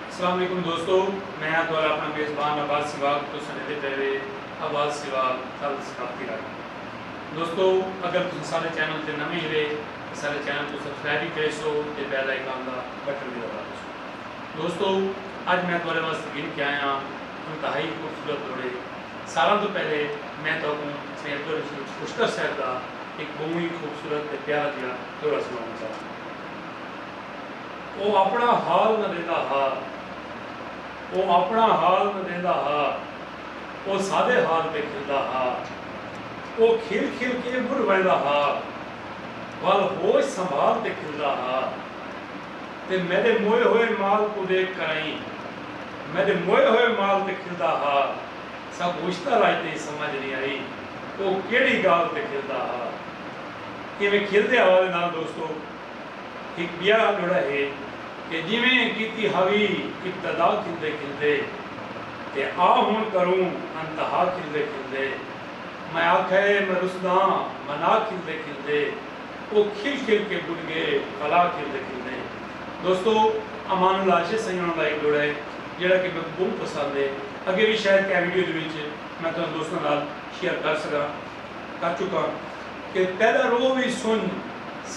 اسلام علیکم دوستو میں ہاں تہاڈا اپݨا میزبان عباس سیوال تساں ݙیندے پئے وے عباس سیوال تھل ثقافتی رنگ دوستو اگر تساں ساݙے چینل تے نویں ہیرے تاں ساݙے چینل کوں سبسکرائب وی کریسو تے بیل آئیکن دا بٹن وی دبا ݙیسو دوستو اڄ میں تہاڈے واسطے گھن کے آیا ہاں انتہائی خوبصورت لوڑھے ساراں توں پہلے میں تہاکوں سئیں عبدالرشید خشتر صاحب دا ہک ٻہوں ای خوبصورت تے پیارا جیہا لوڑھا سݨاوݨ چاہنداں۔ او اپݨا حال نہ ݙیندا ہا۔ او اپݨا حال نہ ݙیندا ہا۔ او ساݙے حال تے کھلدا ہا۔ او کھل کھل کے ٻݙھ ویندا ہا۔ ول ہوش سنبھال تے کھلدا ہا۔ تے میݙے موئے ہوئے مال کوں ݙیکھ کرائیں۔ میݙے موئے ہوئے مال تے کھلدا ہا۔ سا گوشتہ راڄ تئیں سمجھ نی آئی۔ او کیڑھی ڳالھ تے کھلدا ہا۔ ایویں کھلدے حوالے نال دوستو! ہک ٻیا جوڑا ہے کہ جیویں کیتی ہاوی ابتدا کھلدے کھلدے تے آ ہن کروں انتہا کھلدے کھلدے میں آکھے میں رسداں منا کھلدے کھلدے او کھل کھل کے بل گے پھلا کھلدے کھلدے دوستو امان اللہ اشے سنگن ہوندا ہک جوڑا ہے جیڑا کہ میکوں بہوں پسند ہے اگے وی شاید کہہ ویڈیو دے وچ میں تہاڈے دوستاں نال شیئر کر سکاں کر چکاں۔ کہ تیݙا رو وی سنڄ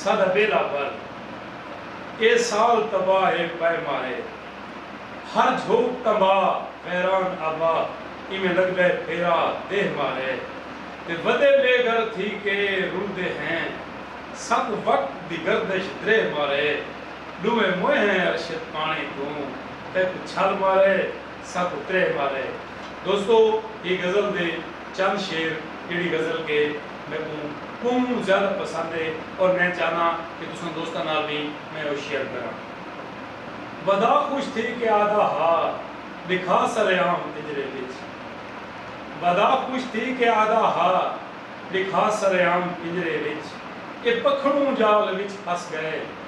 ساݙا ٻیڑا بھر اے سال تباہ اے پئے مارے ہر جھوک تمباہ ویران آباد ایویں لڳدے پھیرا دیہہ مارے تے ودے بے گھر تھی کے رلدے ہیں سک وقت دی گردش دریہہ مارے ݙوہیں موئے ہیں ارشد پاݨی توں تیکوں چھل مارے۔ ست تریہہ پارہ ہے۔ دوستو اے غزل دے چند شعر جیڑھی غزل کے میکوں کوں زیادہ پسند ہے اور میں چاہنا کہ تساں دوستاں نال وی میں او شیئر کراں۔ ودا خوش تھی کے آدا ہا لکھا سرے عام پنجرے وچ۔ ودا خوش تھی کے آدا ہا لکھا سرے عام پنجرے وچ۔ اے پکھڑوں جال وچ پھس گئے۔